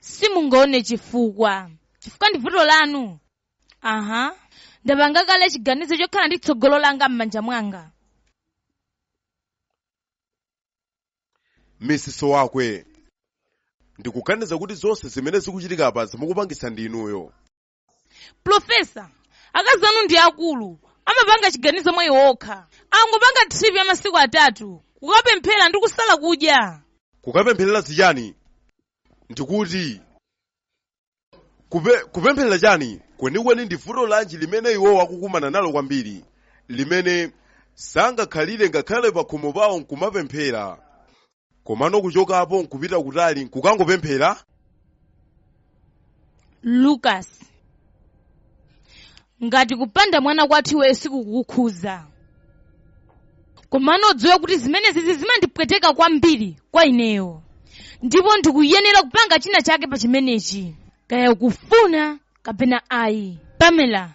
simungaone chifukwa chifukwa ndi vuto lanu aha ndapanga kale chiganizo chokhala ndi tsogolo langa m'manja mwanga mrs wakwe ndikuganiza kuti zonse zimene zikuchitika apa zikumupangitsa ndi inuyo profesa akazi anu ndi akulu amapanga chiganizo mwa iwo okha angopanga tripi ya masiku atatu kukapemphera ndi kusala kudya kukapempherera zichani ndikuti kupe, kupempherera chani kwenikweni ndi vuto lanji limene iwowo akukumana nalo kwambiri limene sangakhalire ngakhale pakhomo pawo nkumapemphera komano kuchokapo nkupita kutali nkukangopemphera lucas ngati kupanda mwana kwathu iweyo sikukukhudza komano udziwe kuti zimenezi zimandipweteka kwambiri kwa ineyo ndipo ndikuyenera kupanga china chake pa chimenechi kaya ukufuna kapena ayi pamela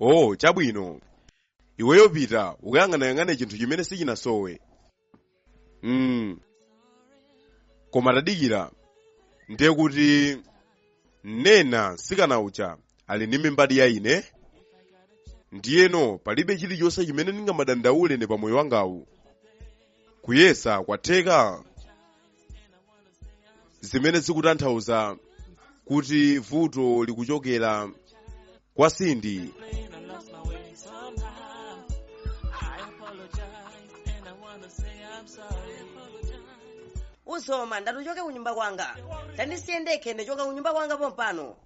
oh chabwino iweyo pita ukayang'anayang'ane chinthu chimene sichinasowe mm. koma tadikira ndiye kuti Nnenna mtsikana uja ali ndi mimba ya ine ndiyeno palibe chilichonse chimene ndingamadandaule ine pamoyo wangawu kuyesa kwatheka zimene zikutanthauza kuti vuto likuchokera kwa Cindy uzoma ndati uchoke kunyumba kwanga tandisiye ndekhe ndichoka kunyumba kwanga pompano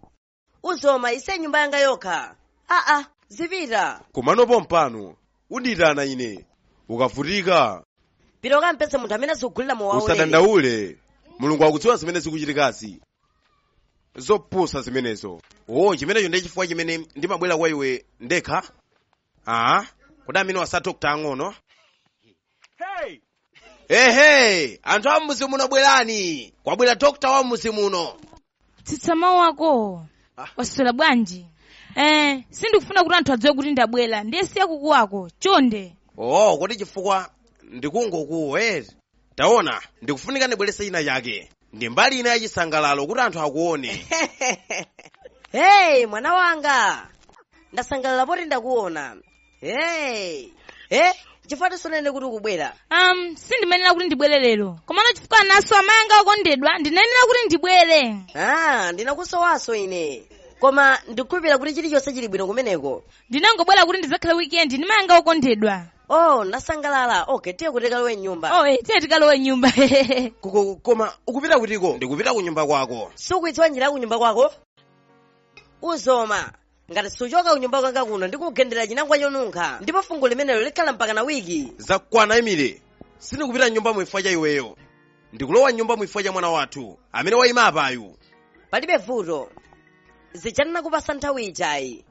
uzoma usiye nyumba yanga yokha aa zipita komano pompano undiitana ine ukavutika pita ukampeze munthu amene azikugulira mowawo usadandaule mulungu akudziwa zimene zikuchitikazi zopusa zimenezo o chimenecho ndi chifukwa chimene ndimabwera kwa iwe ndekha aa kodi ameneyu asa dokta ang'ono ehe anthu a mmudzi muno bwerani kwabwera dokta wa mmudzi muno tsitsa mawu ako waswera bwanji eh sindikufuna kuti anthu adziwe kuti ndabwera ndiye siya kukuwako chonde oo kodi chifukwa ndikungokuwa eti taona ndikufunika ndibweretse china chake ndi mbali ina ya chisangalalo kuti anthu akuone hey mwana wanga ndasangalala poti ndakuona hey eh chifukwa chani sunanene kuti ukubwera um sindimayenera kuti ndibwere lero komano chifukwa ndinasowa amayi anga okondedwa ndinayenera kuti ndibwere ah ndinakusowanso ine koma ndikukhulupirira kuti chilichonse chili bwino kumeneko ndinangobwera kuti ndidzakhale wikendi ndi mayi anga okondedwa oh ndasangalala okay tiye kuti tikalowe mnyumba oh eh, tiye tikalowe mnyumba Koko- koma ukupita kutiko ndikupita ku nyumba kwako sukuidziwa njira ya kunyumba kwako udziona ngati suchoka kunyumba kwanga kuno ndikugenda ndi chinangwa chonunkha ndipo fungo limenelo likhala mpaka na wiki zakwana emile sindikupita mnyumba muno chifukwa cha iweyo ndikulowa mnyumba muno chifukwa cha mwana wathu amene wayima apayu palibe vuto uchenjere kupasa nthawi ijayi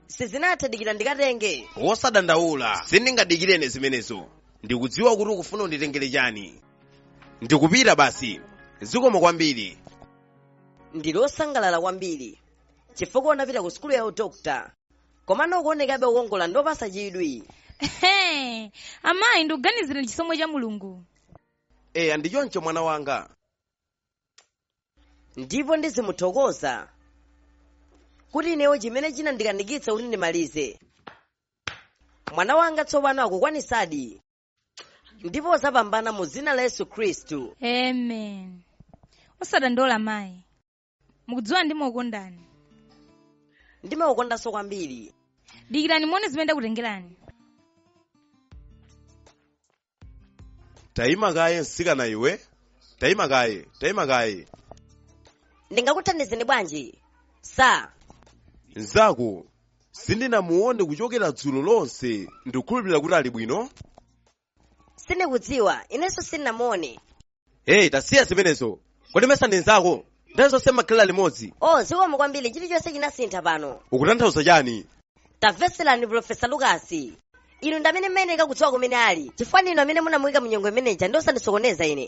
sindinathe dikira ndikatenge wosadandaula sindingadikirene zimenezo ndikudziwa kuti ukufuna unditengere chani ndikupita basi zikomo kwambiri ndili osangalala kwambiri chifukwa unapita ku sukulu ya udokta komano ukuonekabe wokongola ndi wopasa chidwi Ehe, amayi ndikuganiza ndi chisomo cha mulungu eya ndi choncho mwana wanga ndipo ndizimuthokoza kuti inewo chimene chinandikanika kuti ndimalize mwana wanga tsopano akukwanitsadi ndipo uzapambana mu dzina la yesu khristu amen osadandaula mayi mukudziwa ndimakukondani ndimakukondanso kwambiri dikirani muone zimene ndakutengerani tayima kaye msikana iwe tayima kaye tayima kaye ndingakuthandizeni bwanji eya nzako sindinamuone kuchokera dzulo lonse ndikukhulupirira kuti ali bwino sindikudziwa inenso sindinamuone heyi tasiya zimenezo kodi mesa ndi nzako nthawi zonse mmakhalira limodzi o zikomo kwambiri chilichonse chinasintha pano ukutanthauza chani tamvetserani profesa lukasi inu ndi amene mmayeneka kudziwa kumene ali chifukwa ndinu amene munamuyika mu nyengo imene ija ndi osandisokoneza ine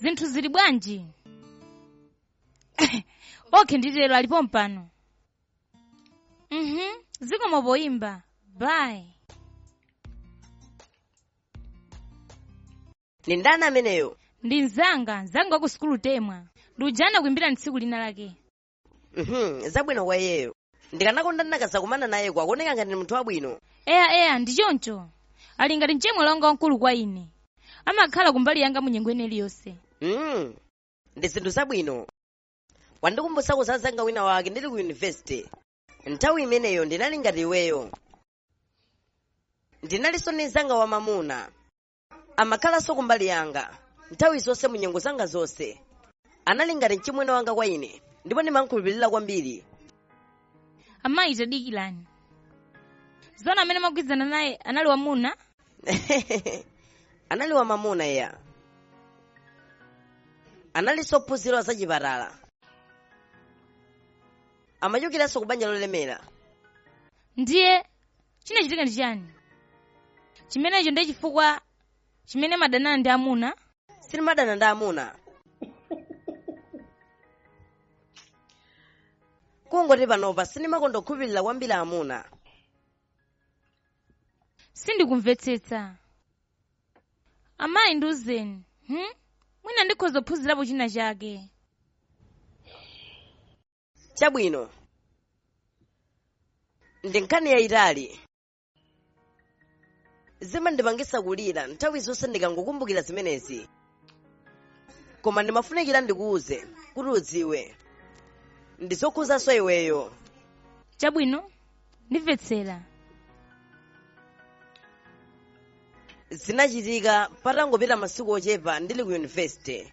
zinthu zili bwanji okay nditero ali pompano mhm zikomo poyimba bye ndi ndani ameneyo ndi mzanga mzanga wa ku sukulu temwa ndi uja ndina kuimbira tsiku lina lake Mhm, zabwino kwa iyeyo ndikanakonda ndinakazakumana naye koma akuoneka ngati ndi munthu wabwino eya eya ndi choncho ali ngati mchemwali wanga wamkulu kwa ine amakhala kumbali yanga mu nyengo ina iliyonse Mm, ndi zinthu zabwino wandikumbutsako za mzanga wina wake ndili ku yunivesite nthawi imeneyo ndinali ngati iweyo ndinalinso ndi mzanga wamamuna amakhalanso kumbali yanga nthawi zonse mu nyengo zanga zonse anali ngati mchimwene wanga kwa ine ndipo ndimamkhulupirira kwambiri amayi tadikirani zona amene mumagwirizana naye anali wamuna anali wamamuna ya analinso ophunzira za chipatala amachokeranso ku banja lolemera ndiye chinachitika ndi chiyani chimenecho ndi chifukwa chimene mumadanana ndi amuna sindimadana ndi amuna kungoti panopa sindimakonda kukhulupirira kwambiri amuna sindikumvetsetsa amayi ndiuzeni hmm? mwina ndikhoza kuphunzirapo china chake chabwino ndi nkhani yayitali zimandipangisa kulira nthawi zonse ndikangokumbukira zimenezi koma ndimafunikira ndikuuze kuti udziwe ndizokhudzanso iweyo chabwino ndimvetsera zinachitika patangopita masiku ochepa ndili ku yunivesite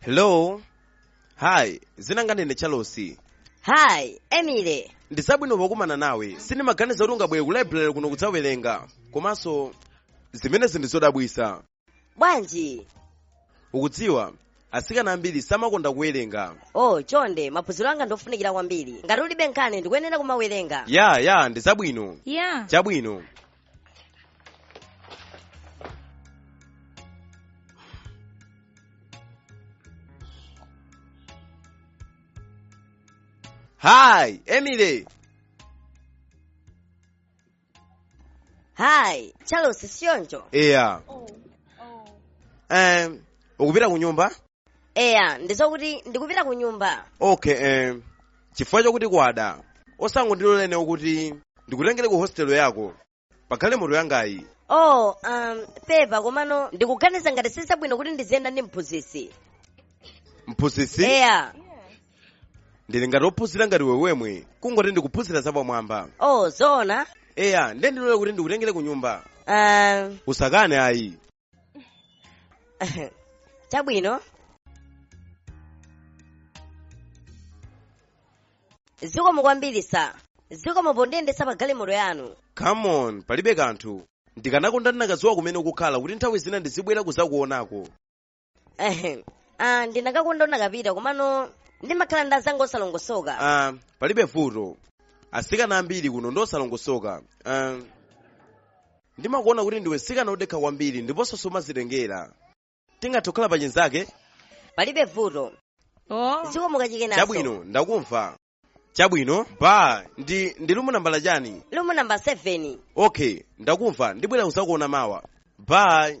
hello hi dzina langa ndine Charles hi Emily ndi zabwino pokumana nawe sindimaganiza kuti ungabwere ku library kuno kudzawerenga komanso zimenezi ndi zodabwisa bwanji ukudziwa atsikana ambiri samakonda kuwerenga oh chonde maphunziro anga ndofunikira kwambiri ngati ulibe nkhani ndikuyenera kumawerenga ya ya ndi zabwino ya chabwino Hi, Emily. Hi, Charles Sionjo. Yeah. Oh, oh. Um, ukupita ku nyumba? eya ndizo kuti ndikupita ku nyumba okay eh, chifukwa chokuti kwada osangondilola ineyo kuti ndikutengere ku hostel yako pa galimoto yangayi oh um, pepa komano ndikuganiza ngati sizabwino kuti ndiziyenda ndi mphunzitsi mphunzitsi eya ndili ngati ophunzira ngati iwe wemwe kungoti ndikuphunzira zapamwamba oh zoona eya ndiye ndilole kuti ndikutengere ku nyumba um, usakane ayi chabwino zikomo kwambiri sir zikomo pondiyendetsa pa galimoto yanu come on palibe kanthu ndikanakonda ndinakadziwa kumene ukukhala kuti nthawi zina ndizibwera kuzakuonako Ehem. ah, ndinakakonda unakapita komano ndimakhala ndi azanga osalongosoka ah, palibe vuto atsikana ambiri kuno ndi osalongosoka ah, ndimakuona kuti ndiwe mtsikana wodekha kwambiri ndiponso sumazitengera tingathe kukhala pa chinzanga palibe vuto oh zikomo kachikenanso chabwino ndakumva chabwino bye ndi ndi room nambala chani room number 7 okay ndakumva ndibwera kuzakuona mawa bye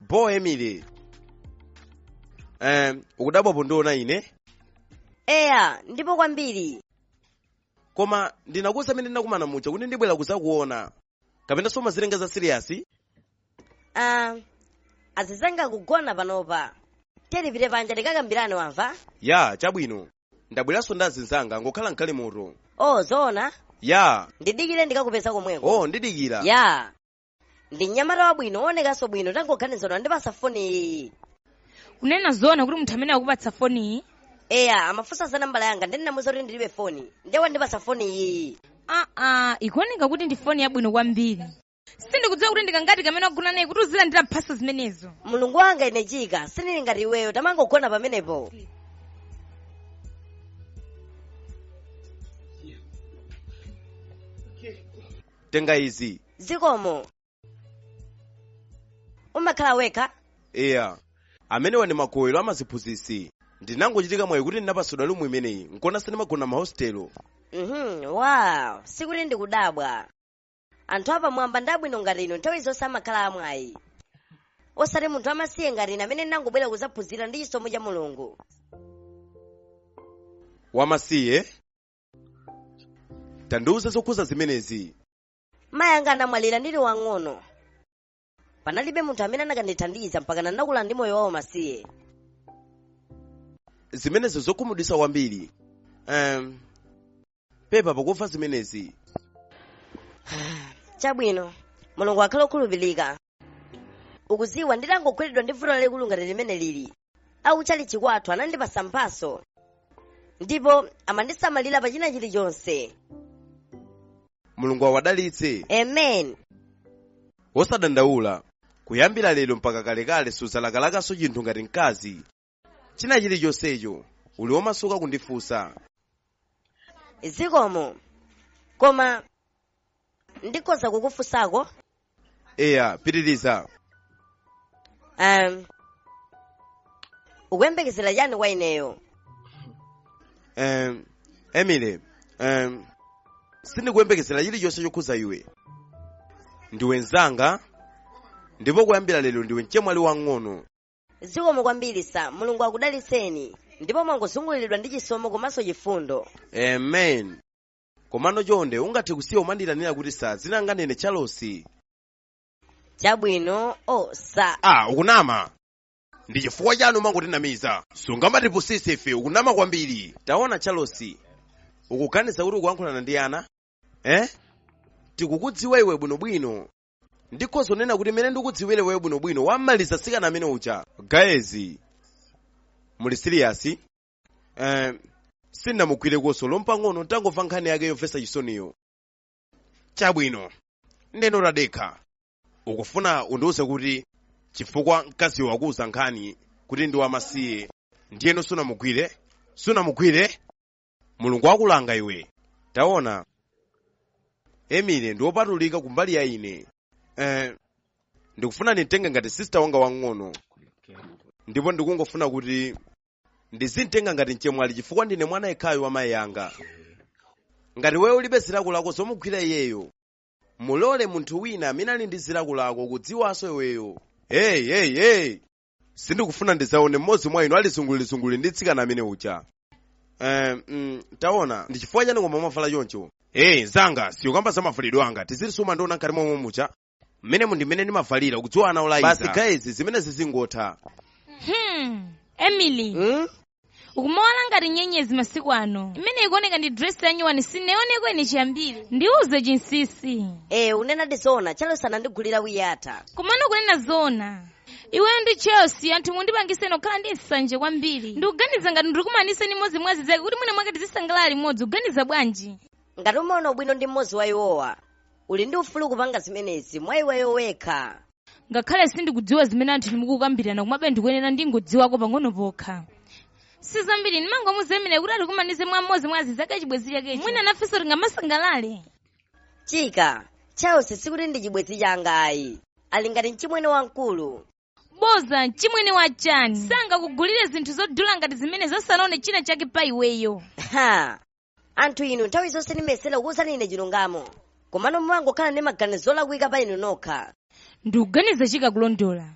bo emily um, ukudabwa pondiona ine eya ndipo kwambiri koma ndinakuuza amene ndinakumana muja kuti ndibwera kuzakuona kapena sumazitenga za siriyasi ah, azizanga kugona panopa tiye tipite panja tikakambirane wamva ya chabwino ndabweranso ndi azinzanga ngokhala mkali moto o zoona ya ndidikire ndikakupeza komweko o ndidikira ya ndi mnyamata wabwino woonekanso bwino tangoganiza wandipasa foni iyi kunena zoona kuti munthu amene wakupatsa foniyi eya amafunsa za nambala yanga nde ndinamuza kuti ndilibe foni ndiye wandipasa foni iyi aa ikuoneka kuti ndi foni yabwino kwambiri sindikudziwa kuti ndikangati kamene wagona naye kuti uzilandira mphaso zimenezo mulungu wanga ine chika sindili ngati iweyo tamangogona pamenepo tenga izi zikomo umakhala wekha eya amenewa ndi magowero amaziphunzitsi ndinangochitira mwayi kuti ndinapasidwa lumu imeneyi nkona sindimagona mahostelo mhm wow sikuti ndikudabwa anthu apamwamba ndi abwino ngati inu nthawi zonse amakhala amwayi osati munthu wamasiye ngati ine amene ndinangobwera kuzaphunzira ndi chisomo cha mulungu wamasiye tandiuze zokhuza zimenezi mayi anga anamwalira ndili wang'ono panalibe munthu amene akanandithandiza mpaka ndinakula ndi moyo waumasiye zimenezo zokhumudwisa kwambiri um, pepa pakumva zimenezi chabwino mulungu akhale okhulupirika ukuziwa nditangogweredwa ndi vuto lalikulu ngati limene lili akutchalitchi kwathu anandipasa mphaso ndipo amandisamalira pa china chilichonse mulungu awadalitse amen wosadandaula kuyambira lero mpaka kalekale suzalakalakanso chinthu ngati mkazi china chilichonsecho uli womasuka kundifunsa zikomo koma ndikhoza kukufunsako eya pitiriza um, ukuyembekezera chani kwa ineyo um, emily um, sindikuyembekezera chilichonse chokhuza iwe ndiwe mzanga ndipo kuyambira lero ndiwe mchemwali wang'ono zikomo kwambiri sa mulungu akudalitseni ndipo mwangozunguliridwa ndi chisomo komanso chifundo amen komano chonde ungathe kusiya kumandiyitanira kuti sa dzina langa ndine charles chabwino o sa ah ukunama ndi chifukwa chani umangotinamiza sungamatipusise ife ukunama kwambiri taona charles ukuganiza kuti ukuyankhulana ndi ana eh tikukudziwa iwe bwinobwino ndikhoza kunena kuti mmene ndikudziwire iweyo bwinobwino wammaliza mtsikana amene uja guys muli serious eh, sindinamugwire konse olo mpang'ono ntangomva nkhani yake yomvetsa chisoniyo chabwino ndeno tadekha ukufuna undiwuze kuti chifukwa mkaziyo wakuwuza nkhani kuti ndi wamasiye ndiyeno sunamugwire sunamugwire mulungu akulanga iwe taona emily ndi wopatulika kumbali ya ine eh, ndikufuna ndimtenge ngati sister wanga wamng'ono ndipo ndikungofuna kuti ndizimtenga ngati mchemwali chifukwa ndine mwana yekhayo wa mayi anga ngati iweyo ulibe zilakolako zomugwira iyeyo mulole munthu wina amene ali ndi zilakolako kudziwanso iweyo hey hey hey sindikufuna ndidzaone mmodzi mwa inu ali zungulizunguli ndi mtsikana amene uja Eh, mm, taona ndi chifukwa chani koma mwavala choncho ee mzanga siya kukamba za mavalidwe anga nthawi zonse umandiona ngati momwe muja mmenemu ndi mmene ndimavalira kudziwa ana olayiza basi guys zimenezi zingotha hmm emily hmm? ukumawala ngati nyenyezi masiku ano imene ikuoneka ndi dress yanyuwani sindinaioneko ine chiyambire ndiuze chinsisi ee kunenadi zoona charles anandigulira wiyata komano kunena zoona iweyo ndi charles anthu mundipangisa ine kukhala ndi nsanje kwambiri ndikuganiza ngati undikumanise ndi mmodzi mwa azinzake kuti mwina mwake tizisangalala limodzi uganiza bwanji ngati umaona ubwino ndi mmodzi wa iwowa uli ndi ufulu kupanga zimenezi mwa iweyo wekha ngakhale sindikudziwa zimene anthu inu mukukambirana komabe ndikuyenera ndingodziwako pang'ono pokha si zambiri ndimangomuuza emily kuti atikumanize mwa mmodzi mwa azinzake a chibwenzi chakecho mwina nafenso tingamasangalale chika charles sikuti ndi chibwenzi changa ayi ali ngati mchimwene wamkulu boza mchimwene wa chani sangakugulire zinthu zodula ngati zimenezo asanaone china chake pa iweyo ha anthu inu nthawi zonse ndimayesera kukuwuzani ine chilungamo komano mumangokhala ndi maganizo olakwika pa inu nokha ndikuganiza chika akulondola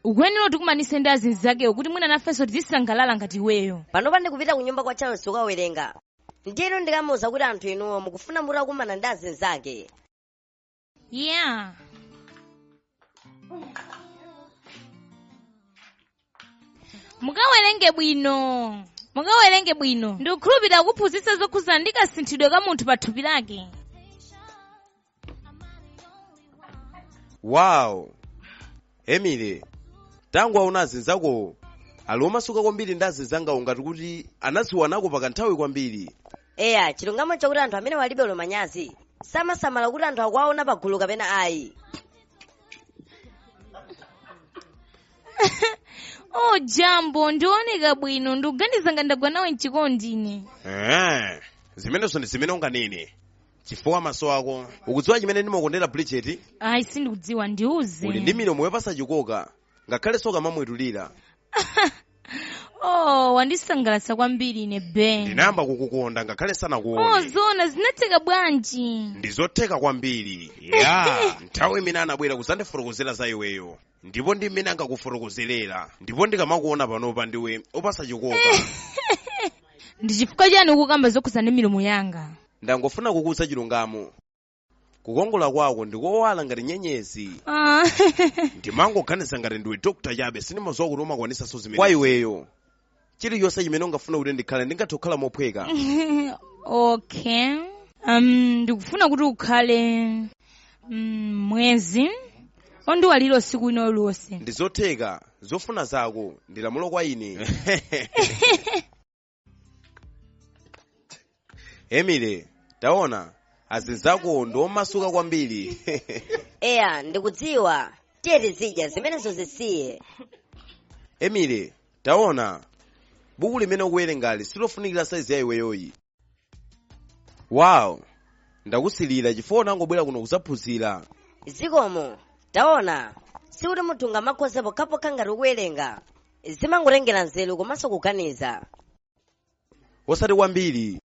ukuyenera utikumanise ndi azinzakewo kuti mwina nafenso tizisangalala ngati iweyo panopa ndikupita ku nyumba kwa charles kukawerenga ndiyeno ndikamuwuza kuti anthu inuyo mukufuna mutakumana ndi azinzake Yeah. mukawerenge bwino ndikukhulupirira akakuphunzitsa zokhudzana ndi kasinthidwe ka munthu pa thupi lake Wow! emily tangowaona azinzakowo ali omasuka kwambiri ndi azinzangawo ngati kuti anadziwanako pa kanthawi kwambiri eya chilungamo chakuti anthu amenewa alibe olo manyazi samasamala kuti anthu akuwaona pagulu kapena ayi o jambo ndioneka bwino ndikuganiza ngati ndagwa nawe mchikondi ine Eh, zimenezo ndi zimene unganene chifukwa maso ako ukudziwa chimene ndimakondera bridget ayi sindikudziwa ndiuze uli ndi milomo yopasa chikoka ngakhalenso ukamamwetulira oh wandisangalatsa kwambiri ine ben ndinayamba kukukonda ngakhale ndisanakuone zona zinatheka bwanji ndizotheka kwambiri ya nthawi imene anabwera kuzandifotokozera za iweyo ndipo ndi mmene ankakufotokozerera ndipo ndikamakuona panopa ndiwe opasa chikoka ndi chifukwa chani ukukamba zokhuza ndi milomo yanga ndangofuna kukuuza chilungamo kukongola kwako ndikowala ngati nyenyezi Ah. ndimangoganiza ngati ndiwe dokta chabe sindimaziwa kuti umakwanisanso zimene kwa iweyo chilichonse chimene ungafuna kuti ndikhale ndingathe kukhala mophweka okay um, ndikufuna kuti ukhale mm, mwezi ondiwalira usiku wina ulionse ndizotheka zofuna zako ndilamulo kwa ine emily taona azinzako ndi omasuka kwambiri eya ndikudziwa tiye tizidya zimenezo zisiye emily taona buku limene ukuwerengali silofunikira saizi ya iweyoyi wow ndakusilira chifukwa unangobwera kuno kuzaphunzira zikomo taona sikuti munthu ungamakhoze pokhapokha ngati ukuwerenga zimangotengera nzeru komanso kuganiza osati kwambiri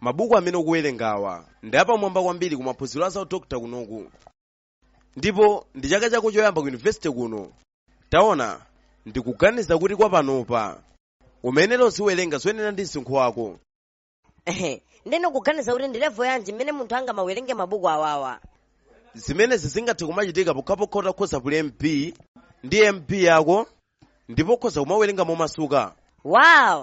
mabuku amene ukuwerengawa ndi apamwamba kwambiri ku maphunziro a za udokota kunoku ndipo ndi chaka chako choyamba ku yunivesite kuno taona ndikuganiza kuti kwa panopa uyenera uziwerenga zoyenera ndi msinkhu wako Ehe, ndeno ukuganiza kuti ndi level yanji mmene munthu angamawerenge mabuku awawa zimenezi zingathe kumachitika pokhapokha utakhoza kuli mb ndi mb yako ndipo ukhoza kumawerenga momasuka wow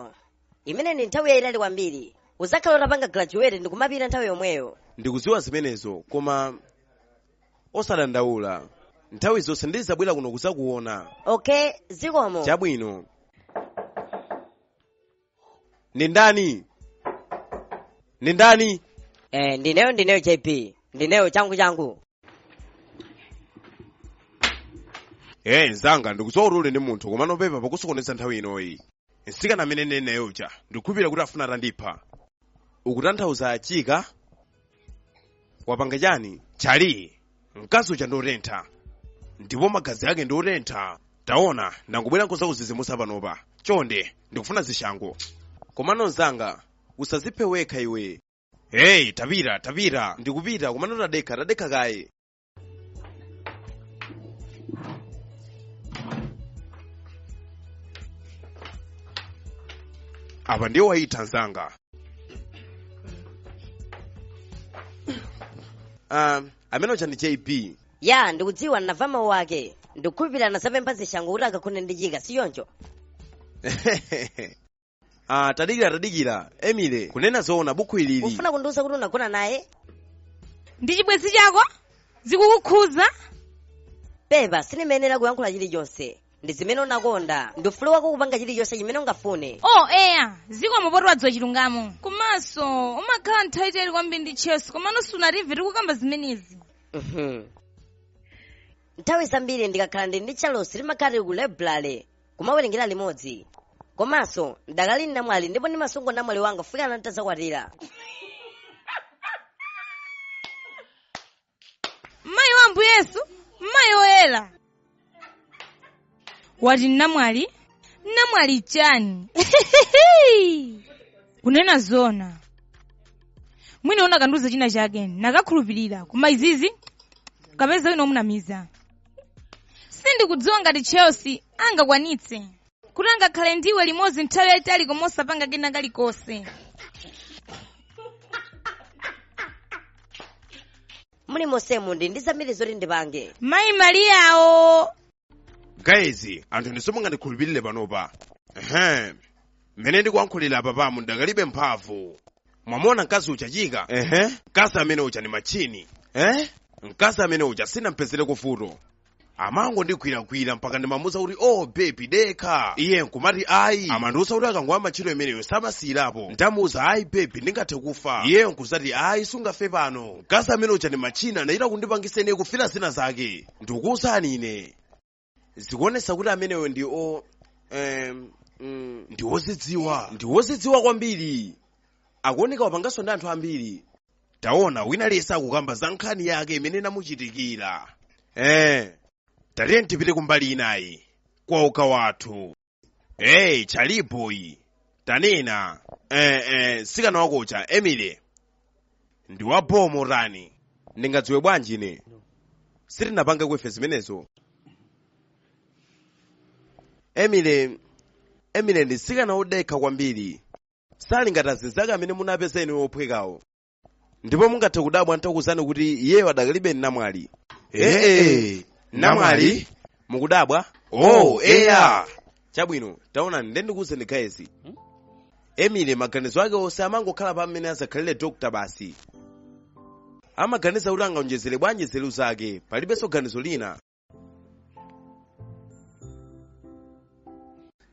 imene ndi nthawi yayitali kwambiri uzakhala utapanga graduate ndi kumapita nthawi yomweyo ndikudziwa zimenezo koma osadandaula nthawi zonse ndizabwera kuno kuzakuona okay zikomo chabwino ndi ndani ndi ndani Eh, ndineyo ndineyo JB. Ndineyo changu changu. ee mzanga ndikudziwa kuti uli ndi munthu komano pepa pokusokoneza nthawi inoyi msikana amene neneyo uja ndikukhulupirira kuti afuna atandipha ukutanthauza chika wapanga chani charlie mkazi uja ndi otentha ndipo magazi ake ndi otentha taona ndangobwera nkuzakuzizimusa panopa chonde ndikufuna zishango komano mzanga usaziphe wekha iwe heyi tapita tapita ndikupita komano tadekha tadekha kaye apa ndiye wayitha mnzanga um, amene uja ndi JB ya ndikudziwa ndinamva mawu ake ndikukhulupirira anazapempha zishango kuti akakhone ndi Chika si choncho ah tadikira tadikira Emily kunena zoona bukhu ilili ufuna kundiuza kuti unagona naye ndi chibwenzi chako zikukukhuza pepa sindimayenera kuyankhula chilichonse ndi zimene umakonda ndi ufulu wako kupanga chilichonse chimene ungafune oh eya zikomo poti wadziwa chilungamo komanso umakhala nthawi yaitali kwambiri ndi Chelsea komano sunatimve tikukamba zimenezi Mhm. nthawi zambiri ndikakhala ndi ndi Charles timakhala tili ku library kumawerengera limodzi komanso ndakali namwali ndipo ndimasunga unamwali wanga kufika nditadzakwatira mayi wa Ambuye Yesu mayi woyera wati namwali namwali chani kunena zoona mwina ukanandiuza china chake ndikanakhulupirira koma izizi kapeze wina omunamiza sindikudziwa ngati Chelsea angakwanitse kuti angakhale ndiwe limodzi nthawi yayitali koma osapanga kena kalikonse mulimonsemu ndi ndi zambiri zoti ndipange mayi Mariyawo guys anthu ndinu simungandikhulupirire panopa ehem mmene ndikuyankhulira apapamu ndikalibe mphamvu mwamuona mkazi uja Chika ehe mkazi amene uja ni matchini eh mkazi amene uja sinampezere vuto amangondigwiragwira mpaka ndimamuuza kuti oh baby dekha iye nkumati ayi amandiuza kuti akangoyamba ntchito imeneyo samasiyirapo nditamuuza ayi baby ndingathe kufa iye nkuzati ayi sungafe pano mkazi amene uja ni matchini anachita kundipangisa ine kufira zina zake ndikuuzani ine zikuonesa kuti ameneyo ndi o em, mm, ndi wozidziwa ndi wozidziwa kwambiri akuoneka wapanganso ndi anthu ambiri taona wina aliyese akukamba za nkhani yake imene inamuchitikira eh tatiye tipite kumbali inayi kwa uka wathu hey Charlie boy tanena eh, eh, mtsikana wako uja Emily ndi wa bho motani ndingadziwe bwanji ine sitinapange ife zimenezo Emily Emily ndi mtsikana wodekha kwambiri sali ngati azinzake amene munapeza inu wophwekawo ndipo mungathe kudabwa nditakuwuzani kuti iyeyo adakalibe namwali ee namwali mukudabwa oh eya chabwino taonani nde ndikuwuzeni gayezi emily maganizo ake onse amangokhala pa mmene adzakhalire dokta basi amaganiza kuti angaonjezere bwanji nzeru zake palibenso ganizo lina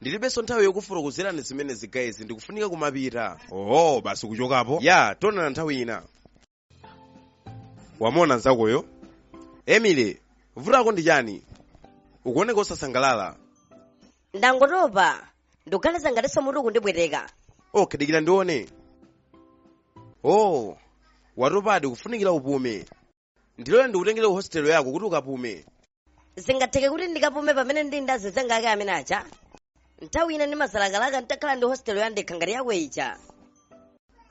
ndilibenso nthawi yokufotokozerani zimene zigayezi ndikufunika kumapita oho basi kuchokapo ya tionana nthawi ina wamona nzakoyo emily vutako ndi chani ukuoneka osasangalala ndangotopa ndikuganiza ngatinso mutu kundipweteka okay dikira ndione oh watopadi kufunikira upume ndilole ndikutengere ku hostel yako kuti ukapume zingatheke kuti ndikapume pamene ndili ndi azinzanga ake amene aja nthawi ina ndimazalakalaka nditakhala ndi hostel yandekha ngati yako ija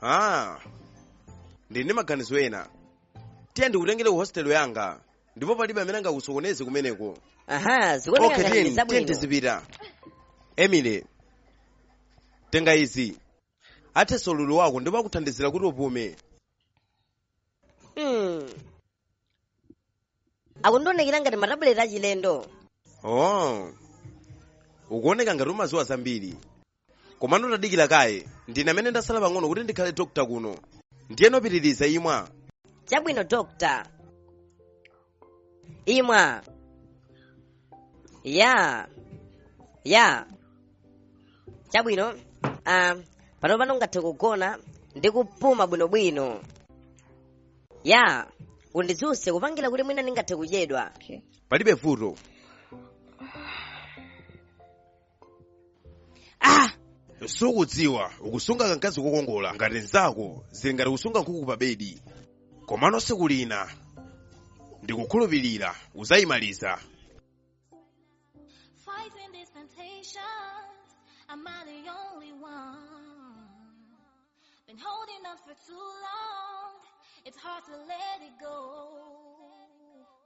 ah ndili ndi maganizo ena tiye ndikutengere ku hostel yanga ndipo palibe amene angakusokoneze kumeneko aha zikuoneka okay ngati ndi zabwino tiye tizipita emily tenga izi athetsa ululu wako ndipo akuthandizira kuti upume Hmm. akundionekera ngati matabuleti achilendo oh ukuoneka ngati umaziwa zambiri komano tadikira kaye ndine amene ndasala pang'ono kuti ndikhale dokta kuno ndiyeno pitiriza imwa chabwino dokta Imwa. Ya. Ya. Chabwino. Ah, pano pano ungathe kugona ndi kupuma bwinobwino. Ya. Undidzuse kupangira kuti mwina ndingathe kudyedwa. Okay. palibe vuto ah sukudziwa ukusunga kankazi kokongola ngati nzako zili ngati kusunga nkhuku pa bedi komano tsiku lina ndikukhulupirira udzayimaliza Fighting these temptations, I'm not the only one. Been holding on for too long, it's hard to let it go.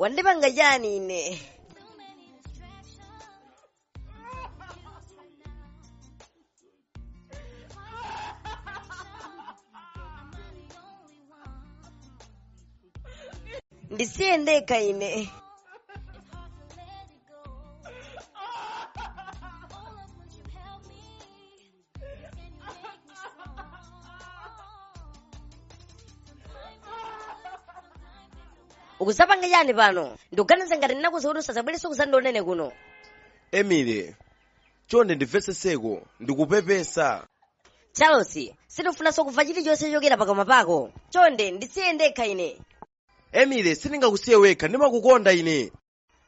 wandipanga chani ine ndisiye ndekha ine ukuzapanga chani pano ndikuganiza ngati ndinakuuza kuti usazabwereso kuzandionene kuno emily chonde ndimvetsetseko ndikupepesa charles sindifunanso kumva chilichonse chochokera pakamwa pako chonde ndisiye ndekha ine emily sindingakusiye wekha ndimakukonda ine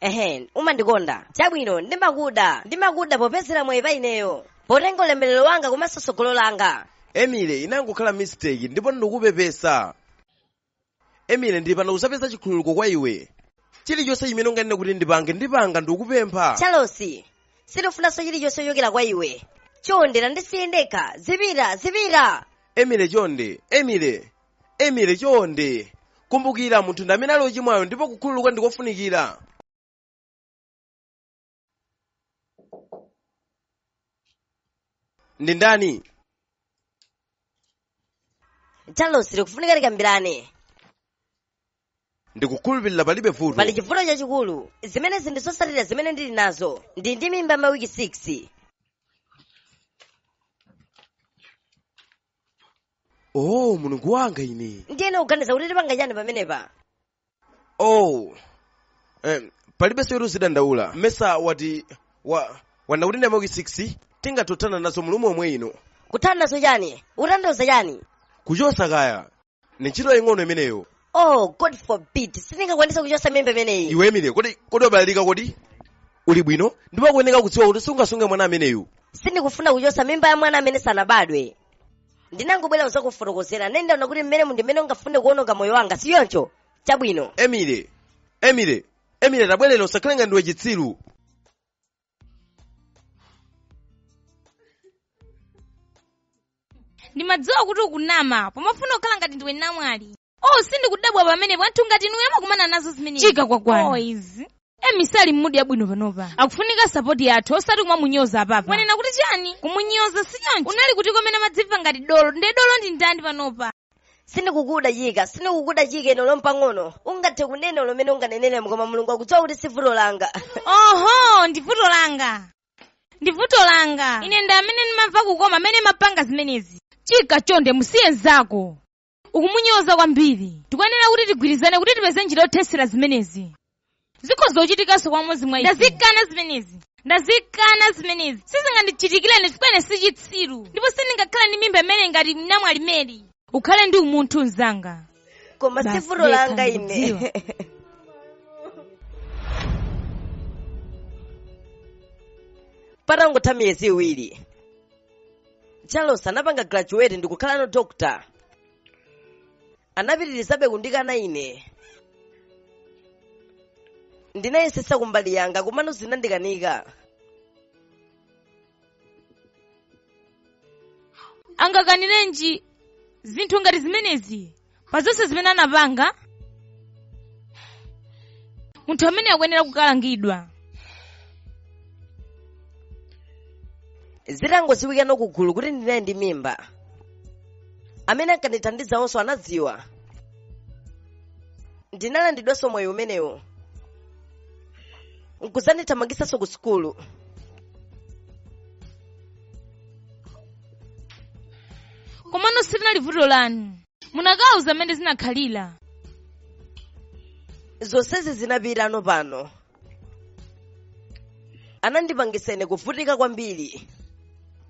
ehe umandikonda chabwino ndimakuda ndimakuda popezera mwayi pa ineyo potenga ulemerero wanga komanso tsogolo langa emily inangokhala mistake ndipo ndikupepesa emily ndili pano kuzapeza chikhululuko kwa iwe chilichonse chimene unganene kuti ndipange ndipanga ndikupempha charles sindifunanso chilichonse chochokera kwa iwe chonde ndisiye ndekha zipita zipita emily chonde emily emily chonde kumbukira munthu ndi amene ali ochimwayo ndipo kukhululuka ndi kofunikira ndi ndani charles tikufunika tikambirane ndikukhulupirira palibe vuto pali chivuto chachikulu zimenezi ndi zotsatira zimene ndili nazo ndi ndi mimba mawiki 6 oh mulungu wanga ine ndiyeno ukuganiza kuti tipanga chani pamenepa oh eh, palibenso zoti uzidandaula mesa wati wanena kuti ndi mawiki 6 tingathe kuthana nazo mulungu omwe uno kuthana nazo chani ukutanthauza chani kuchosa kaya ni ntchito yaying'ono imeneyo oh god forbid sindingakwanisa kuchosa mimba imeneyi iwe emily kodi kodi wabalalika kodi uli bwino ndipo ukuyeneka kudziwa kuti sungasunge mwana ameneyu sindikufuna kuchosa mimba ya mwana amene sanabadwe ndinangobwera kuzakufotokozera nde ndaona kuti mmene ndi mmene ungafune kuononga moyo wanga sichoncho chabwino emily emily emily tabwerera usakhale ngati ndiwe chitsiru ndimadziwa kuti ukunama pomafuna kukhala ngati ndiwe namwali oh sindikudabwa pamenepo anthu ngati inuyo amakumana nazo zimenezi Chika kwakwana. oh, izi emily sali mmudi yabwino panopa akufunika sapoti yathu osati kumamunyoza apapa wanena kuti chani kumunyoza si choncho unali kuti mmene umadzimva ngati dolo nde dolo ndi ndani panopa sindikukuda chika sindikukuda chika ine olo mpang'ono ungathe kunena zomwe unganene koma mulungu akudziwa kuti si vuto langa oho ndi vuto langa ndi vuto langa ine ndi amene ndimamva kukoma mmene umapanga zimenezi chika chonde musiye mzako ukumunyoza kwambiri tikuyenera kuti tigwirizane kuti tipeze njira yothetsera zimenezi zikhoza kuchitikanso kwa mmodzi mwa ife ndazikana zimenezi ndazikana zimenezi sizingandichitikire ine chifukwa ine si chitsiru ndipo sindingakhale ndi mimba imene ngati namwali meri ukhale ndi umunthu mzanga koma si vuto langa ine patangotha miyezi iwiri charles anapanga graduate ndikukhalano doctor anapitirizabe kundikana ine ndinayesetsa kumbali yanga komano zinandikanika angakanirenji zinthu ngati zimenezi pa zonse zimene anapanga munthu ameneyo akuyenera kukalangidwa zitangodziwikana kusukulu kuti ndinali ndi mimba amene ankandithandiza onse anadziwa ndinalandidwanso mwayi umenewo nkuzandithamangisanso ku sukulu komano silinali vuto lanu munakauza mmene zinakhalira zonsezi zinapita ano pano anandipangitsa ine kuvutika kwambiri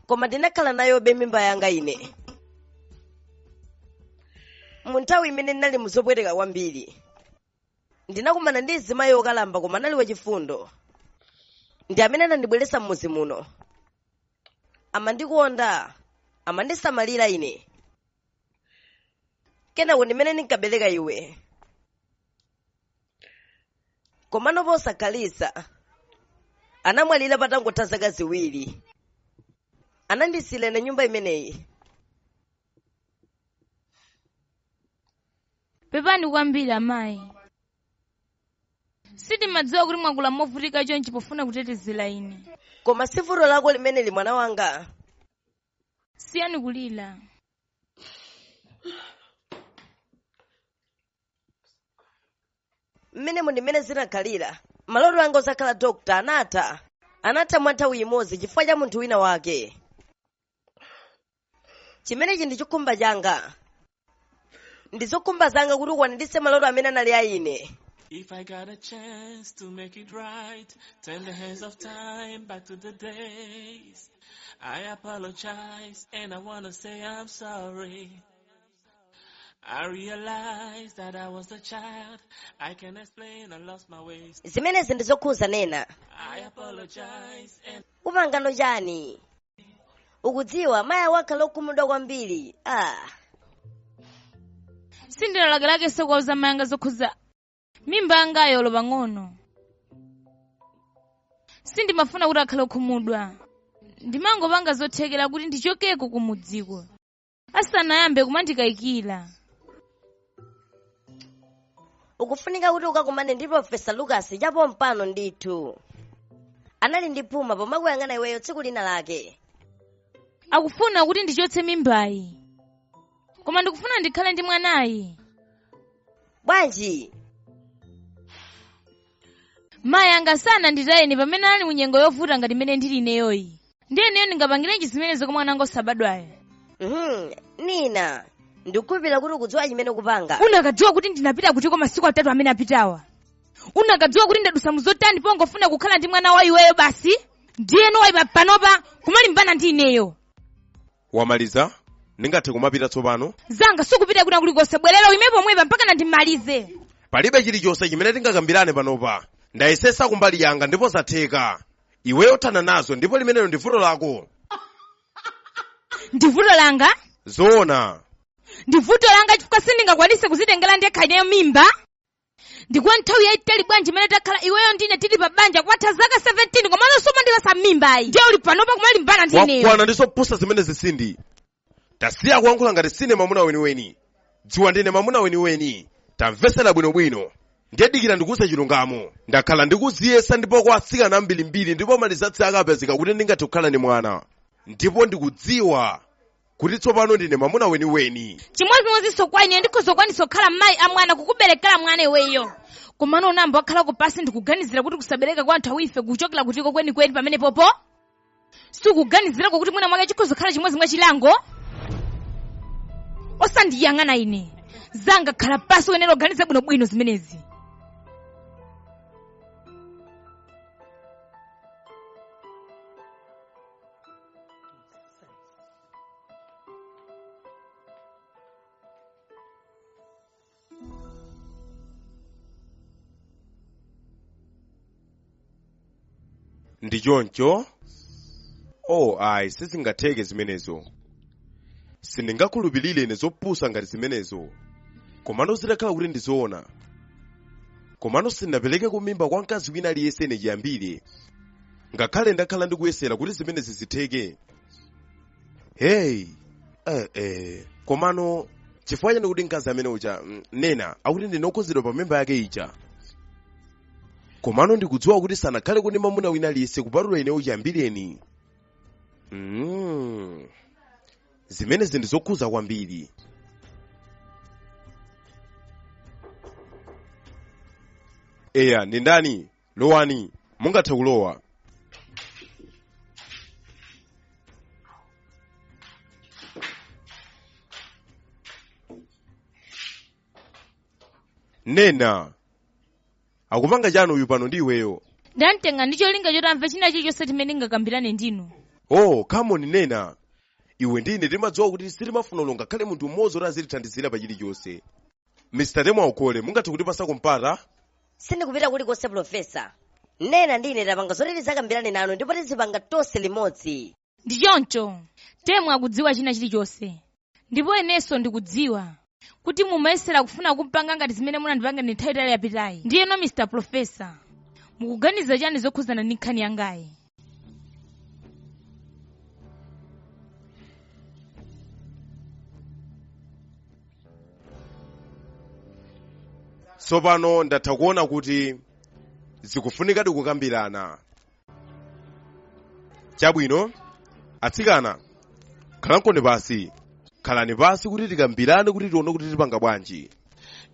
koma ndinakhala nayobe mimba yanga ine mu nthawi imene ndinali muzopweteka kwambiri ndinakumana ndi mzimayi wokalamba koma anali wachifundo ndi amene anandibweretsa m'mudzi muno amandikonda amandisamalira ine kenako ndimene ndinkabereka iwe komano posakhalitsa anamwalira patangotha zaka ziwiri anandisiira ine nyumba imeneyi pepani kwambiri amayi sindimadziwa kuti mwakula movutika chonchi pofuna kutetezera ine koma si vuto lako limeneli mwana wanga siyani kulira mmenemu ndi mmene zinakhalira maloto anga odzakhala dokta anatha anatha mwa nthawi imodzi chifukwa cha munthu wina wake chimenechi ndi chikhumbo changa ndi zokhumba zanga kuti ukwaniritse maloto amene anali a ine If I got a chance to make it right, turn the hands of time back to the days. I apologize and I wanna say I'm sorry. I realized that I was a child. I can explain I lost my ways. zimenezi ndi zokhuza nina I apologize and upanga no chani ukudziwa mayi ako akhala okhumudwa kwambiri ah. sindinalakelakenso kuwauza mayi anga zokhuza mimba yanga yolo pang'ono sindimafuna kuti akhale okhumudwa ndimangopanga zothekera kuti ndichokeko kumudziko asanayambe kumandikayikira ukufunika kuti ukakumane ndi profesa lucas chapompano ndithu anali ndi phuma pomakuyang'ana iweyo tsiku lina lake akufuna kuti ndichotse mimbayi koma ndikufuna ndikhale ndi mwanayu bwanji mayi anga sananditaye ine pamene anali mu nyengo yovuta ngati imene ndili ineyoyi ndiye ineyo ndingapangirenji zimenezo kwa mwana wanga osabadwayo Mhm, nina ndikukhulupirira kuti ukudziwa chimene ukupanga unakadziwa kuti ndinapita kutiko masiku atatu amene apitawa unakadziwa kuti ndadusa muzotani pongofuna kukhala ndi mwana wa iweyo basi ndiyeno wayamba panopa kumalimbana ndi ineyo wamaliza ndingathe kumapita tsopano zanga sukupita kwina kulikonse bwerera uime pomwepa mpakana ndimalize palibe chilichonse chimene tingakambirane panopa ndayesa kumbali yanga ndipo zatheka iweyo thana nazo ndipo limenelo ndi vuto lako ndi vuto langa zoona ndi vuto langa chifukwa sindingakwanise kuzitengera ndekha ineyo mimba ndi kwa nthawi yayitali bwanji imene takhala iweyo ndine tili pa banja kwatha zaka 17 komano sumandipasa mimbayi ndiye uli panopa kumalimbana ndi ineyo ndakwana ndi zopusa zimenezi sindi tasiya kuyankhula ngati siwe mamuna weniweni dziwa ndine mamuna weniweni tamvesera bwinobwino ndiye dikira ndikuuze chilungamo ndakhala ndikuziyesa ndipo kwa atsikana ambirimbiri ndipo marizati akapezeka kuti ndingathe kukhala ndi mwana ndipo ndikudziwa kuti tsopano ndine mwamuna weniweni chimodzimodzinso kwa ine ndikhoza kukwanitsa kukhala mayi a mwana kukuberekera mwana iweyo komano unayamba wakhalako pansi ndikuganizira kuti kusabereka kwa anthu awife kukuchokera kutiko kwenikweni pamenepopo sukuganizirako kuti mwina mwake chikhoza kukhala chimodzi mwa chilango osandiyang'ana ine zanga khala pansi uyenera kuganiza bwinobwino zimenezi ndi choncho oh ayi sizingatheke zimenezo sindingakhulupirire ine zopusa ngati zimenezo komano zitakhala kuti ndizoona komano sindinaperekeko mimba kwa mkazi wina aliyense ine chiyambire ngakhale ndakhala ndikuyesera kuti zimenezi zitheke heyi eh, eh. komano chifukwa chani kuti mkazi amene uja mm, nena akuti ndine okhuzidwa pa mimba yake ija komano ndikudziwa kuti sanakhalepo ndi mamuna wina aliyense kupatula ine chiyambireni mm. zimenezi ndi zokhuza kwambiri eya ndi ndani lowani mungathe kulowa nena akupanga chani uyu pano ndi iweyo ndamtenga ndi cholinga choti amve china chilichonse chimene ndingakambirane ndinu oh come on nena iwe ndine timadziwa kuti sitimafuna olo ngakhale munthu mmodzi kuti azitithandizira pa chilichonse mr temwa ukole mungathe kutipasako mpata sindikupita kulikonse profesa nena ndi ine tapanga zoti tizakambirane nanu ndipo tizipanga tonse limodzi ndi choncho temwa akudziwa china chilichonse ndipo inenso ndikudziwa kuti mumayesera kufuna kumpanga ngati zimene munandipanga ndi nthawi itali yapitayi ndiyeno mr profesa mukuganiza chani zokhuzana ndi nkhani yangayi tsopano ndatha kuona kuti zikufunikadi kukambirana chabwino atsikana khalani pasi khalani pasi kuti tikambirane kuti tione kuti tipanga bwanji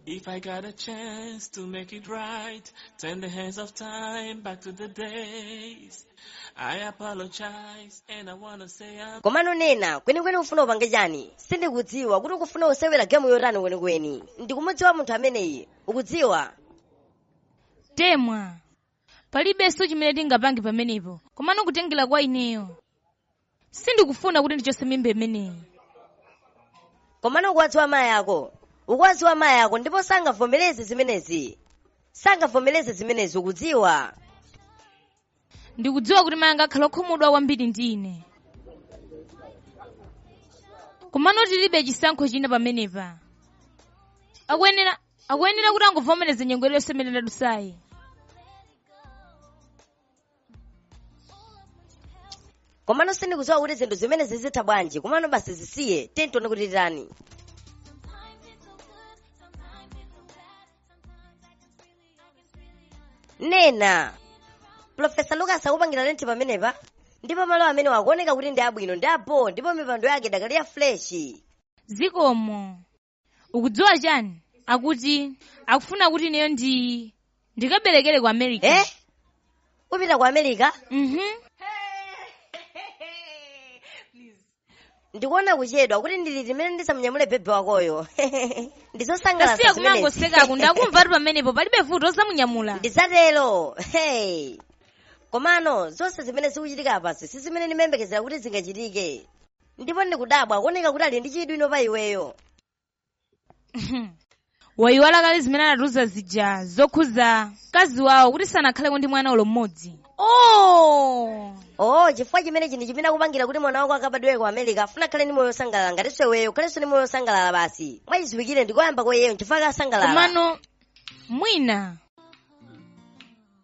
If I got a chance to make it right, turn the hands of time back to the days. I apologize and I wanna say I'm komano nena kwenikweni ufuna upange chani sindikudziwa kuti ukufuna usewera gemu yotani kwenikweni ndikumudziwa munthu ameneyi ukudziwa temwa palibenso chimene tingapange pamenepo komano kutengera kwa ineyo sindikufuna kuti ndichose mimba imeneyi komano ukuwadziwa mayi ako ukuwadziwa mayi ako ndipo sangavomereze zimenezi sangavomereze zimenezi ukudziwa ndikudziwa kuti mayi anga akhala okhumudwa kwambiri ndi ine komano tilibe chisankho china pamenepa akuyenera akuyenera kuti angovomereza nyengo yonse imene ndadusayi komano sindikudziwa kuti zinthu zimenezi zitha bwanji komano basi zisiye tendione kuti titani nena profesa lucas akupangira lenti pamenepa ndipo malo amenewa akuoneka kuti ndi abwino ndi abho ndipo mipando yake idakali ya fresh zikomo ukudziwa chani akuti akufuna kuti ineyo ndi ndikaberekere ku america eh kupita ku america mhm ndikuona kuchedwa kuti ndi liti limene ndizamunyamule bebe wakoyo tasiye ndizosangalatsa kumangosekako ndakumvatu pamenepo palibe vuto uzamunyamula ndizatero hey komano zonse zimene zikuchitika apazi si zimene ndimembekezera kuti zingachitike ndipo ndikudabwa kuoneka kuti ali ndi chidwi inu pa iweyo wayiwala kale zimene anatiuza zija zokhuza mkazi wawo kuti sanakhaleko ndi mwana olo mmodzi oh oh chifukwa chimenechi ndi chimene akupangira kuti mwana wako akabadwere ku america afuna akhale ndi moyo wosangalala ngatinso iweyo ukhalenso ndi moyo wosangalala basi mwachiziwikire ndi koyamba kwa iyeyo nchifukwa akusangalala komano mwina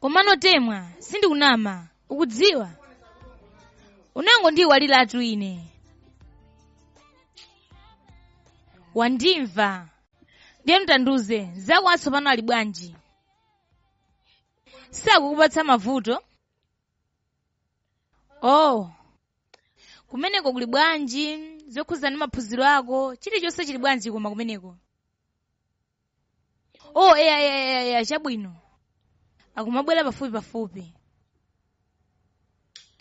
komano temwa sindikunama ukudziwa unangondiiwaliratu ine wandimva ndiye tandiuze nzako watsopano ali bwanji sakukupatsa mavuto oh kumeneko kuli bwanji zokhudzana ndi maphunziro ako chilichonse chili bwanji koma kumeneko oh eya eya eya eya chabwino akumabwera pafupi pafupi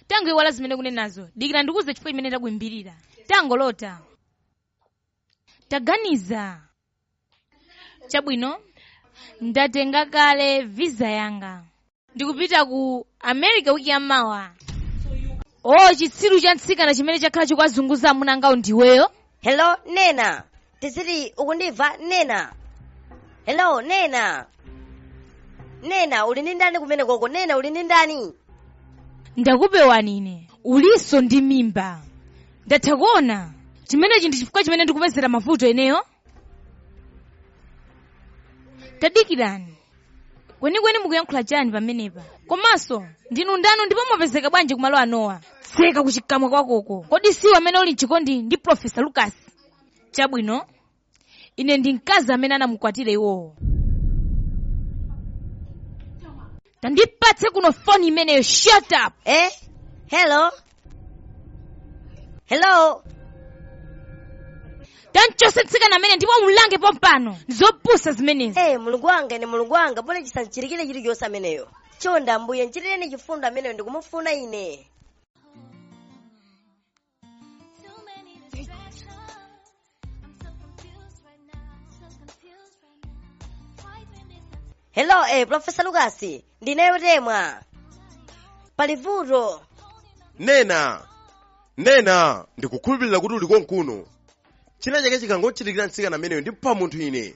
tangoiwala zimene ukunenazo dikira ndikuuze chifukwa chimene takuimbirira tangolota taganiza chabwino ndatenga kale visa yanga ndikupita ku america wiki yamawa o chitsiru cha mtsikana chimene chakhala chikuwazunguza amuna angawo ndiweyo hello nena tiziti ukundimva nena hello nena nena uli ndi ndani kumene koko nena uli ndi ndani ndakupeza ine ulinso ndi mimba ndatha kuona chimenechi ndi chifukwa chimene ndikupezera mavuto ineyo tadikirani kwenikweni mukuyankhula chani pamenepa komanso ndinu ndani ndipo mwapezeka bwanji kumalo anoa tseka kuchikamwa kwakoko kodi si iwe amene uli mchikondi ndi profesa lucas chabwino ine ndi mkazi amene anamukwatira iwowo tandipatse kuno foni imeneyo shut up Eh? Hello? Hello? tamuchotse mtsikana ameneyo ndipo umlange pompano ndizopusa zimenezi Eh, mulungu wanga ine mulungu wanga bola chisamuchitikire chilichonse ameneyo. Chonde ambuye nchitireni chifundo ameneyo ndikumufuna ine. hello eh, profesa lukasi ndineyo temwa pali vuto nena nena ndikukhulupirira kuti uli konkuno china chake chikangochitikira mtsikana ameneyo ndipha munthu ine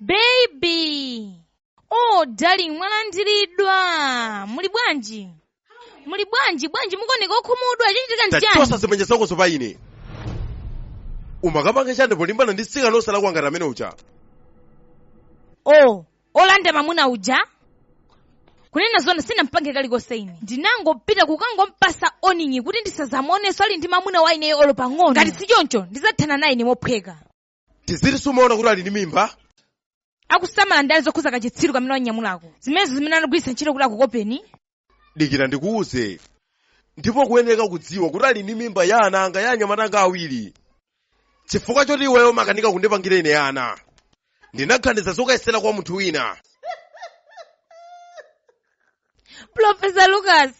baby oh darling mwalandiridwa muli bwanji muli bwanji bwanji mukuoneka okhumudwa chichitika ndi chani tachotsa zimanja zakozo pa ine umakapanga chani polimbana ndi mtsikana osalakwa ngati amene uja oh olanda mamuna uja kunena zona sinampange kalikonse ine ndinangopita kukangompatsa warning kuti ndisadzamuonenso ali ndi mamuna wa ineyo olo pang'ono ngati si choncho ndidzathana naye ine mophweka tiziti sumaona kuti ali ndi mimba akusamala ndani zokhudza kachitsiru kamene wanyamulako zimenezo zimene anagwiritsa ntchito kuti akukopeni dikira ndikuuze ndipo ukuyenera kudziwa kuti ali ndi mimba ya ana anga ya anyamata anga awiri chifukwa choti iweyo umakanika kundipangira ine ana ndinaganiza zokayesera kwa munthu wina profesa lucas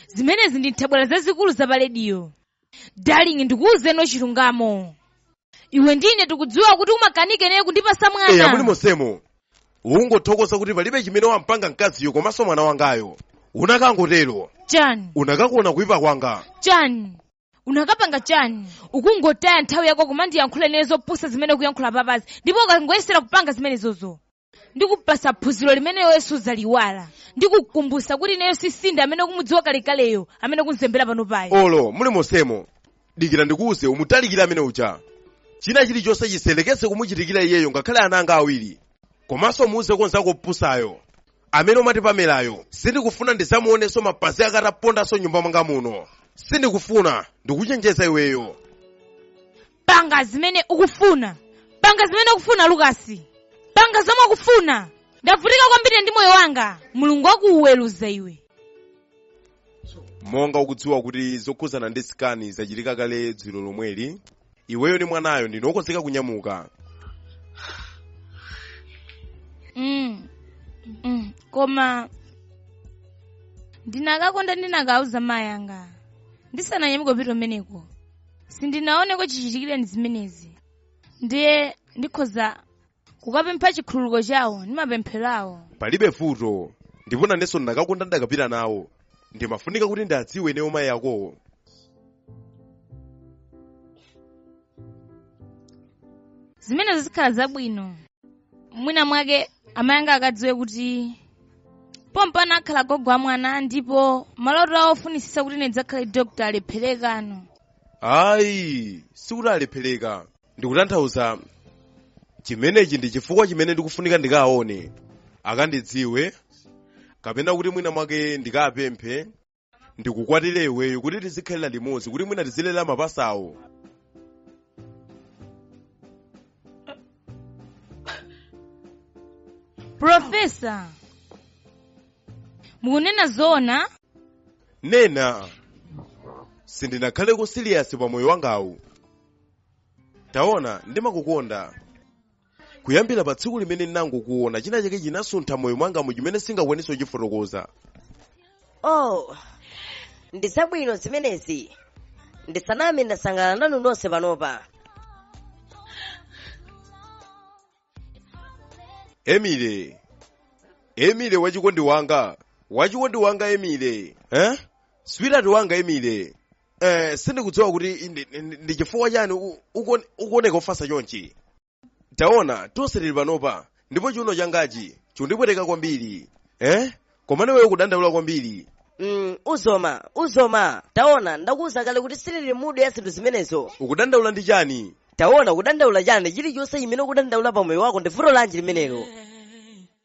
zimenezi ndi nthabwala zazikulu za pa rediyo darling ndikuwuzeni chilungamo iwe ndi ine tikudziwa kuti umakanika ndiwe kundipatsa mwana muli monsemo ungothokoza kuti palibe chimene wampanga mkaziyo komanso mwana wangayo unakangotero chani unakakuona kuipa kwanga chani unakapanga chani ukungotaya nthawi yako kumandiyankhula ine zopusa zimene ukuyankhula papazi ndipo ukangoyesera kupanga zimenezozo ndikupatsa phunziro limene iweyo sudzaliwala ndikukumbutsa kuti ineyo si Cindy amene ukumudziwa kalekaleyo amene akumzembera pano ayi olo muli monsemo dikira ndikuwuze umutalikire amene uja china chilichonse chisayerekeze kumuchitikira iyeyo ngakhale ana anga awiri komanso muuze kamnzako kopusako amene umati pamelayo sindikufuna ndidzamuonenso mapazi ake atapondanso m'nyumba mwanga muno sindikufuna ndikuchenjeza iweyo panga zimene ukufuna panga zimene ukufuna lukasi panga zomwe ukufuna ndavutika kwambiri ndi moyo wanga mulungu akuweruza iwe monga ukudziwa kuti zokhudzana ndi scan zachitika kale dzulo lomweli iweyo ndi mwanayo ndine okonzeka kunyamuka mm. Mm. koma ndinakakonda ndinakauza mayi anga ndisananyamuke kupita kumeneko sindinawaoneko chichitikireni zimenezi ndiye ndikhoza kukapempha chikhululuko chawo ndi mapemphero awo palibe vuto ndipo nanenso ndakakonda ndakapita nawo ndimafunika kuti ndiwadziwe ineyo mayi akowo zimenezo zikhala zabwino mwina mwake amayi anga akadziwe kuti pompano akhala gogo wa mwana ndipo maloto awo ofunisisa kuti ndidzakhale dokota alepherekano ayi sikuti alephereka ndikutanthauza chimenechi ndi chifukwa chimene ndikufunika ndikaone akandidziwe kapena kuti mwina mwake ndikapemphe ndikukwatire iweyo kuti tizikhalira limodzi kuti mwina tizilera mapasawo Profesa, mukunena zoona? nena sindinakhaleko siliyasi pa moyo wangawu taona ndimakukonda kuyambira pa tsiku limene ndinangokuona china chake chinasuntha moyo mwanga mu chimene singakwanitse kuchifotokoza oh ndi zabwino zimenezi ndisaname ndasangalala nanu nonse panopa emile emile wachikondi wanga wachikondi wanga emile eh? switihati wanga emile eh, sindikudziwa kuti ndi- ndi ndi chifukwa chani u- ukuone- ukuoneka ofatsa chonchi taona tonse tili panopa ndipo chiuno changachi chikundipweteka kwambiri eh? komano iweyo ukudandaula kwambiri mm, uzoma uzoma taona ndakuwuza kale kuti sindili mudu ya zinthu zimenezo ukudandaula ndi chani taona kudandaula chani chilichonse chimene ukudandaula pa moyo wako ndi vuto lanji limenero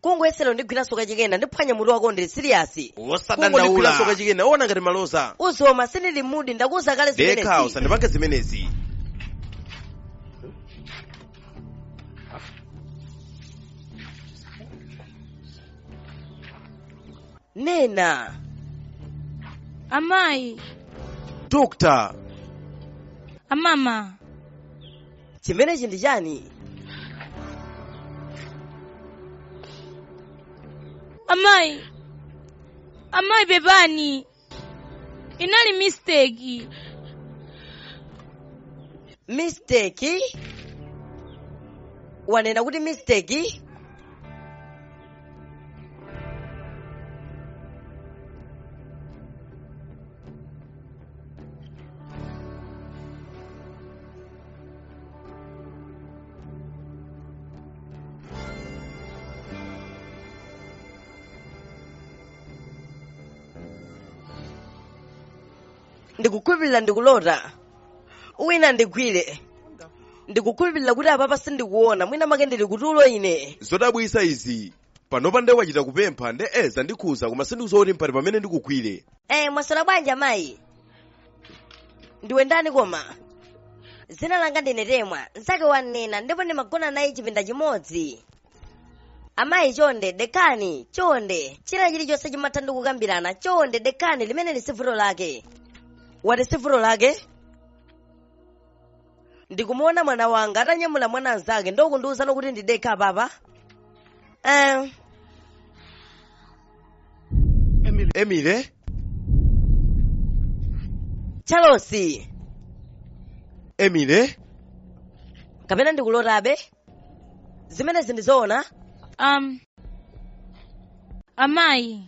kungoyesera undigwiranso kachikena ndiphwanya mutu wako ndili siriyasi kungondigwiranso wosadandaula kachikena ona ngati maloza uzoma sindili mudi ndakuuza kale dekha zimenezi usandipange zimenezi nena amayi dokta amama chimenechi ndi chani amayi amayi pepani inali mistake mistake wanena kuti mistake ndikukhulupirira ndikulota wina andigwire ndikukhulupirira kuti apapa sindikuona mwina make ndili kutulo ine zodabwisa izi panopa nde wachita kupempha nde eh zandikhuza koma sindikudziwa kuti mpati pamene ndikugwire Eh, mwaswera bwanji amayi ndiwe ndani koma dzina langa ndine temwa mzake wa nena ndipo ndimagona naye chipinda chimodzi amayi chonde dekhani chonde china chilichonse chimatha ndi kukambirana chonde dekhani limeneli sivuto lake wati sivuto lake ndikumuona mwana wanga atanyamula mwana mnzake nde ukundiuzano kuti ndidekhe apapa eh, emily charles emily kapena ndikulotabe zimenezi ndizoona um, amayi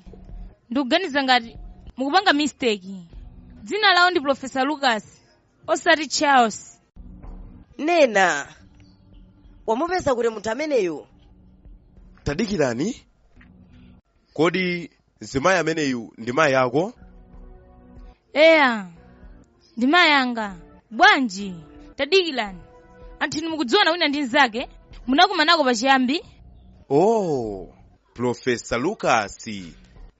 ndikuganiza ngati mukupanga mistake dzina lawo ndi profesa lucas osati charles nena wamupeza kuti munthu ameneyu tadikirani kodi mzimayi ameneyu ndi mayi ako eya ndi mayi anga bwanji tadikirani anthu inu mukudziwana wina ndi mnzake munakumanako pachiyambi oh profesa lucas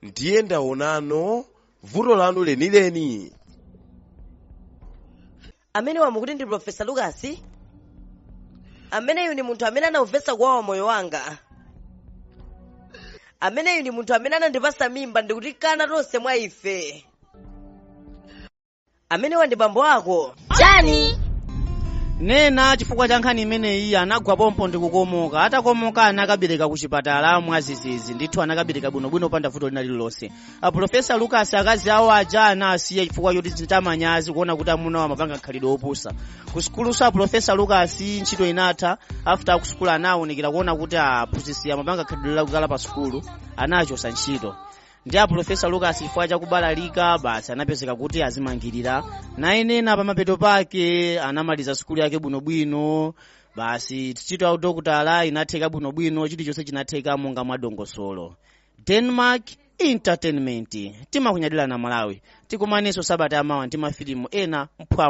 ndiye ndaonano vuto lanu lenileni amenewa mukuti ndi profesa lucas ameneyu ndi munthu amene anaumvetsa kuwawa moyo wanga ameneyu ndi munthu amene anandipasa mimba ndikutikana tonse mwa ife amenewa ndi bambo ako chani nena chifukwa cha nkhani imeneyi anagwa pompo ndi kukomoka atakomoka anakabereka ku chipatala mwazizizi ndithu anakabereka bwinobwino popanda vuto lina lililonse aprofesa lucas akazi awo aja anawasiya chifukwa choti zinachita manyazi kuona kuti amuna awo amapanga khalidwe opusa ku sukuluso aprofesa lucas ntchito inatha after akusukulu anawunikira kuona kuti aphunzitsi amapanga khalidwe lakukala pa sukulu anawachosa ntchito nde aprofesa lucas chifukwa chakubalalika basi anapezeka kuti azimangirira naye nena pamapeto pake anamaliza sukulu yake bwinobwino basi ntchito ya udokotala inatheka bwinobwino chilichonse chinatheka monga mwa dongosolo denmark entertainment timakunyadirani amalawi tikumanenso sabata yamawa ndi mafilimu ena mphwa